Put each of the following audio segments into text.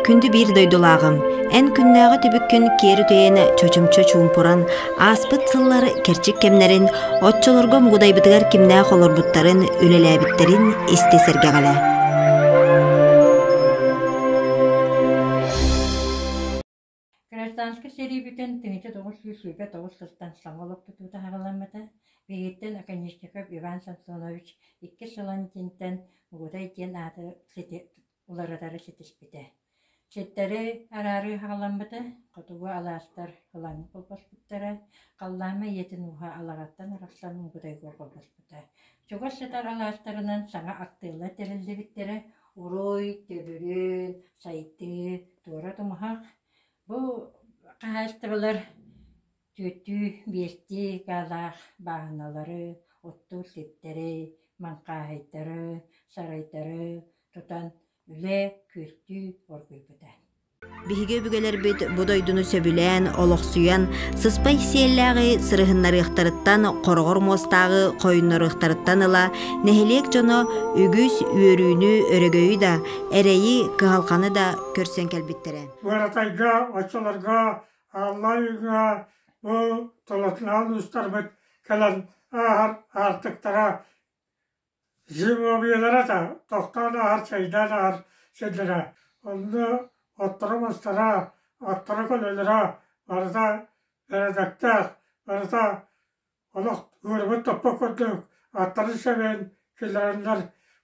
Күндү биир дойдулааҕым, эн күннээҕи түбүккүн киэр үтэйэн чочумча чуумпуран, ааспыт сыллар кэрчик кэмнэрин, оччолорго мугудайбытыгар кимнээх олорбуттарын, үлэлээбиттэрин истэ сэргэҕэлэ. Гражданскай сэрии бүтэн тыһыынча тоҕус сүүс сүүрбэ тоҕус сылтан саҥа олоппутуу таһаҕалламмыта, биһигиттэн Оконешников Иван Самсонович иккис Солонкинтан Мугудай диэн ааты сити уларытары ситиспитэ. Ситтэри араары хаҕаламмыта, хотугу алаастар ылаҥы холбоспуттара, халлаама ийэтин ууһа алаҕаттан арахсан Мугудайга холбоспута. Чугас сытар алаастарынан саҥа актыылар тэриллибиттэрэ, Уруй, төгүрүн, сайдыы туора тумуһах. Бу хаһаайыстыбалар түөртүү, биэстии гаалаах бааһыналары, оттуур типтэри, маҥхааһайдары, сарайдары тутан үлэ күөртүү оргуйбута Биһиги өбүгэлэрбит бу дойдуну сөбүлээн, олохсуйан, сыспай сиэллээҕи сырыһыннарыахтарыттан, хороҕор муостааҕы хойуннарыахтарыттан ыла нэһилиэк дьоно үгүс үөрүүнү, өрөгөйү да, эрэйи, кыһалҕаны да көрсөн кэлбиттэрэ. Быаратайга, оччолорго Алла Үйга бу толотунаан уустарбыт кэлэн ааһар аартыктара Землеобъездара да тохтоон ааһар чэйдээн ааһар сирдэрэ, онно отторо-мастара, аттара көлөлөрө барыта бэрэдэктээх, барыта олох ыарыбыт топпот курдук аттарын сэбэн киллэрэннэр,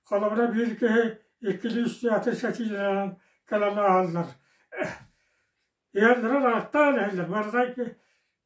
холобура биир киһи иккилии-үс аты сэтиилэнэн кэлэн ааһаллар. Ыалларын ааттаан иһэллэр, барыта икки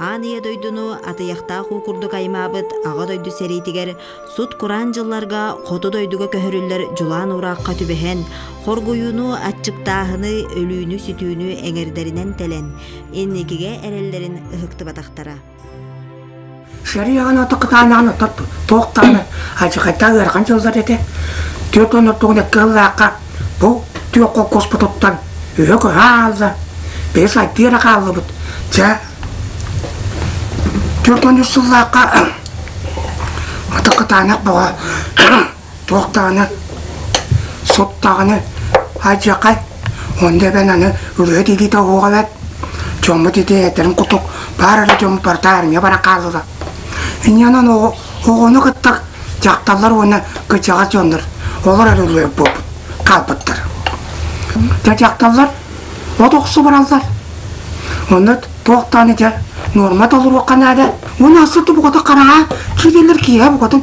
Аан Ийэ дойдуну атыйахтаах уу курдук аймаабыт Аҕа дойду сэриитигэр сут-кураан дьылларга хоту дойдуга көһөрүллэр дьулаан ураахха түбэһэн, хоргуйууну, аччыктааһыны, өлүүнү-сүтүүнү эҥэрдэринэн тэлэн, инникигэ эрэллэрин ыһыктыбатахтара. Шариаҕын ото кытаанаҕын ото туох даҕаны алдьархайдаах ыарахан дьыллар этэ. Түөрт уон ортоҕун икки сыллаахха бу түөрт холкуоспут оттон үһө көһө хаалла. Били сайдыы эрэ хааллыбыт. Дьэ, түөрт уон үс сыллаахха ото кытаанах бөҕө туох даҕаны соп даҕаны алдьархай онно эбэн аны ырыа дилиитэ оһуоҕалат дьоммут ити этэрин кутук баар эрэ дьон барыта армия баран хааллылар инньэнэн оҕону кытта дьахталлар уонна кыдьаҕас дьоннор олор эрэ ырыа буолбут хаалбыттар дьэ дьахталлар от охсу бараллар онно туох даҕаны дьэ нуорма толоруохха наада уон асы тубугата хараҕа киирэлэр киэһэ букатын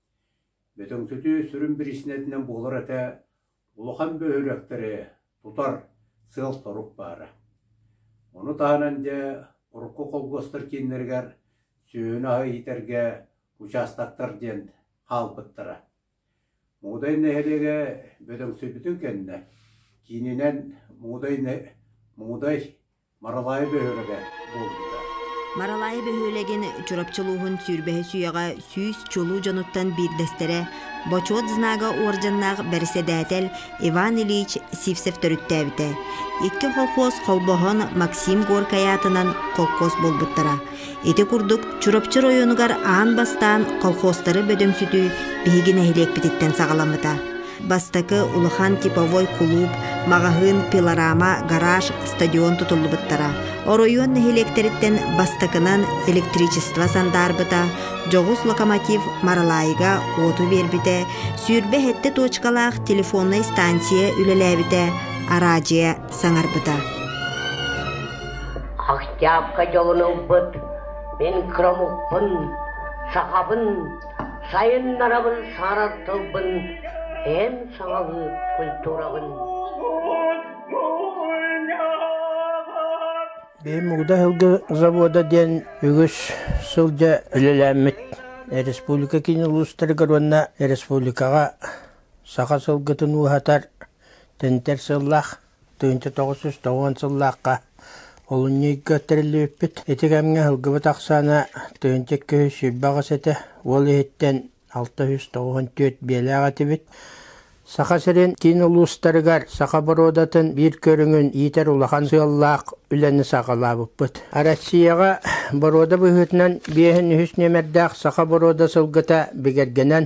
Бөтөҥсөтүү сүрүн бириинсийэтинэн буолар этэ, улахан бөһүөлэктэри тутар сыал-сорук баара. Ону таһынан дьэ урукку холкуостар кииннэригэр сүөһүнү аһы иитэргэ учаастактар диэн хаалбыттара. Муудай нэһилиэгэ Бөтөҥсөтүүтүн кэннэ киининэн Муудай, Муудай Маралаайы бөһүөлэгэ буолбута. Маралаайы бөһүөлэгин Чурапчы улууһун сүүрбэһи сүөҕэ сүүс чулуу дьонуттан биирдэстэрэ, Бочуот знага уордьаннаах бэрэссэдээтэл Иван Ильич Сивцев төрүттээбитэ. Икки холхуос холбоһон Максим Горькай аатынан холкуос буолбуттара. Ити курдук, Чурапчы оройуонугар аан бастаан колхозтары бөдөҥсүтүү биһиги нэһилиэкпититтэн саҕаламмыта. Бастакы улахан типовой кулууп, маҕаһыын, пилорама, гараж, стадион тутуллубуттара. Оройуон нэһилиэктэриттэн бастакынан электричество сандаарбыта, дьоҕус локомотив Маралаайга уоту биэрбитэ, сүүрбэ сэттэ туочкалаах телефоннай станция үлэлээбитэ, араадьыйа саҥарбыта. Октябрьга дьолун ылбыт мин кырамукпун, сахабын, сайыннарабын сааrar тылбын, эн саҥалыы культурабын Бэйим Мугда Аһылгы завода диэн үгүс сылдьа үлэлээммит республика киин улуустарыгар уонна республикаҕа саха сылгытын ууһатар тэнтэр сыллаах Тыһыынча тоҕус сүүс тоҕуон сыллаахха олунньуйга тэриллибиппит. Ити кэмҥэ ылгыбыт ахсаана тыһыынча икки сүүс сүүрбэ аҕыс этэ, уол иһиттэн алта сүүс тоҕуон түөрт биэлээх этибит. Саха сирин киин улуустарыгар саха боруодатын биир көрүҥүн иитэр улахан сыаллаах үлэни саҕалаабыппыт. Россияҕа боруода быһыытынан биэһин үһүс нүөмэрдээх саха боруода сылгыта бигэргэнэн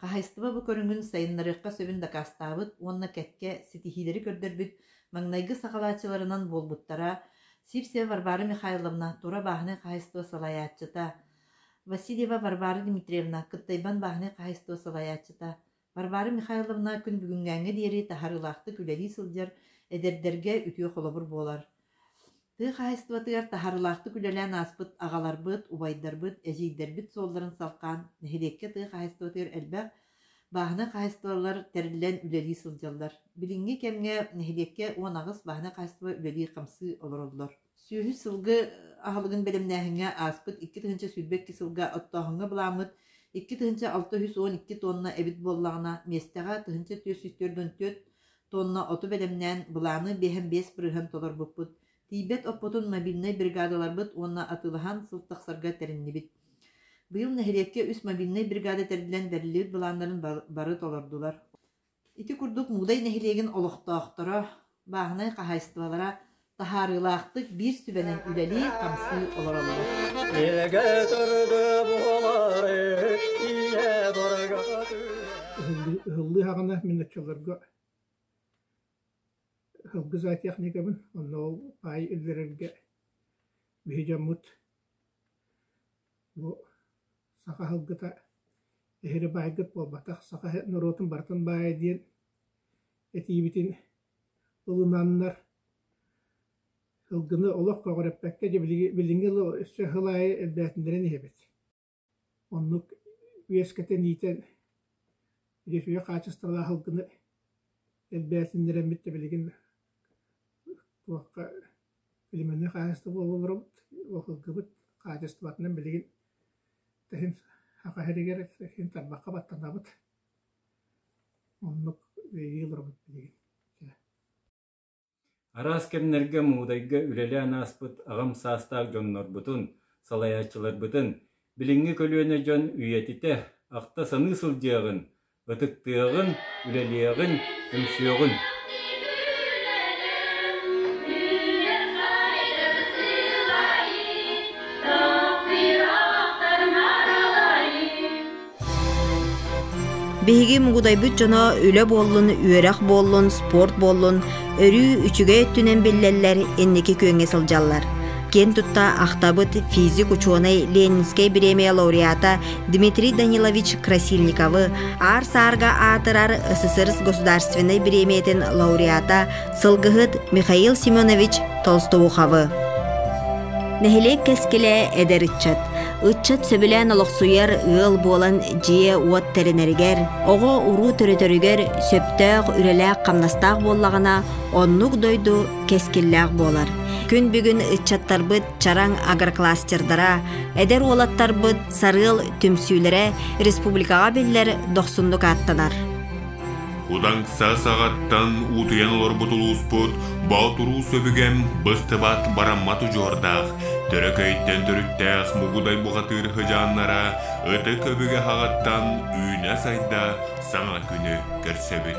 Хаһаайыстыба бу көрүҥүн сайыннарыахха сөбүн дакаастаабыт уонна кэккэ ситиһиилэри көрдөрбүт маҥнайгы сакалааччыларынан буолбуттара Сивцева Варвара Михайловна, Тура бааһынай хаһаайыстыба салайааччыта, Васильева Варвара Дмитриевна, Кыттайбан бааһынай хаһаайыстыба салайааччыта, Варвара Михайловна күн бүгүҥҥээҥҥэ диэри таһаарыылаахтык үлэлии сылдьар, эдэрдэргэ үтүө холобур буолар. Тыа хаһаайыстыбатыгар таһарылаахтык үлэлээн ааспыт аҕаларбыт, убайдарбыт, эдьиийдэрбит суолларын салхаан, нэһилиэккэ тыа хаһаайыстыбатыгар элбэх бааһынай хаһаайыстыбалар тэриллэн үлэлии сылдьаллар. Билиҥҥи кэмҥэ нэһилиэккэ уон аҕыс бааһынай хаһаайыстыба үлэлии-хамсыы олороллор. Сүөһү сылгы аһылыгын бэлэмнээһиҥҥэ ааспыт икки тыһыынча сүүрбэ икки сылга оттооһуҥҥа былааммыт икки тыһыынча алта үс уон икки туонна эбит буоллаҕына, миэстэҕэ тыһыынча түөрт сүүс төрт он төрт Туонна оту бэлэмнээн, былааны биэһэн-биэс бырыһан толорбуппут. Тиийбэт оппутун мобильнай бригадаларбыт уонна атыылаһан сыл тахсарга тэриннибит. Быйыл нэһилиэккэ үс мобильнай бригада тэриллэн бэриллибит былааннарын бары толордулар. Ити курдук Муудай нэһилиэгин олохтоохторо, бааһынай хаһаайыстыбалара таһаарыылаахтык биир сүбэнэн үлэлии-хамсыы олороллор. Ыһыллыаҕына мин оччолорго ыһылгы зоотехникабын, онно ол паай иллэрэргэ биһи дьоммут бу саха ыһылгыта эһири баайгыт буолбатах, саха норуотун барытын баайа диэн этиибитин ылынаннар, сылгыны олох көҕүрэппэккэ дьэ билиҥҥи билиҥҥи ыла өссө сыл аайы элбээтиннэрэн иһэбит. Оннук үөскэтэн иитэн үтүө хаачыстыбалаах сылгыны элбээтиннэрэммит да билигин туохха племенной хаачыстыба буола олоробут, ол сылгыбыт хаачыстыбатынан билигин тэһин саха сиригэр тэһин тарбахха баттанабыт Оннук үөрүү олоробут билигин чэ Араас кэмнэргэ Муудайга үлэлээн ааспыт аҕам саастаах дьоннорбутун, салайааччыларбытын, билиҥҥи көлүөнэ дьон үйэтитэ, ахта-саныы сылдьыаҕын, ытыктыаҕын, үлэлиэҕин, түмсүөҕүн. Биһиги мугудайбыт дьоно үлэ буоллун, үөрэх буоллун, спорт буоллун, өрүү үчүгэй өттүнэн биллэллэр, инники күөҥҥэ сылдьаллар. Киэн тутта ахтабыт физик учуонай Ленинскэй бириэмийэ лауреата Дмитрий Данилович Красильниковы, Аар Саарга аатырар СССР государственнай бириэмийэтин лауреата сылгыһыт Михаил Семенович Толстоуховы. Нэһилиэк кэскилэ эдэр ыччат. Ыччат сөбүлээн олохсуйар ыал буолан дьиэ-уот тэринэригэр, оҕо-уруу төрөтөрүгэр сөптөөх үлэлээх-хамнастаах буоллаҕына, оннук дойду кэскиллээх буолар. Күн бүгүн ыччаттарбыт чараҥ агрокластердара, эдэр уолаттарбыт сарыал түмсүүлэрэ республикаҕа биллэр дохсуннук ааттанар. Удаҥса саҕаттан уутуйан олорбут улууспут Боотуруу сөбүгэм быстыбат бараммат удьуордаах, төрөкөйтөн төрүттээх мугудай бухатыыр хыдьааннара ытык өбүгэ хаҕаттан үүнэ сайда саҥа күнү көрсөбүт.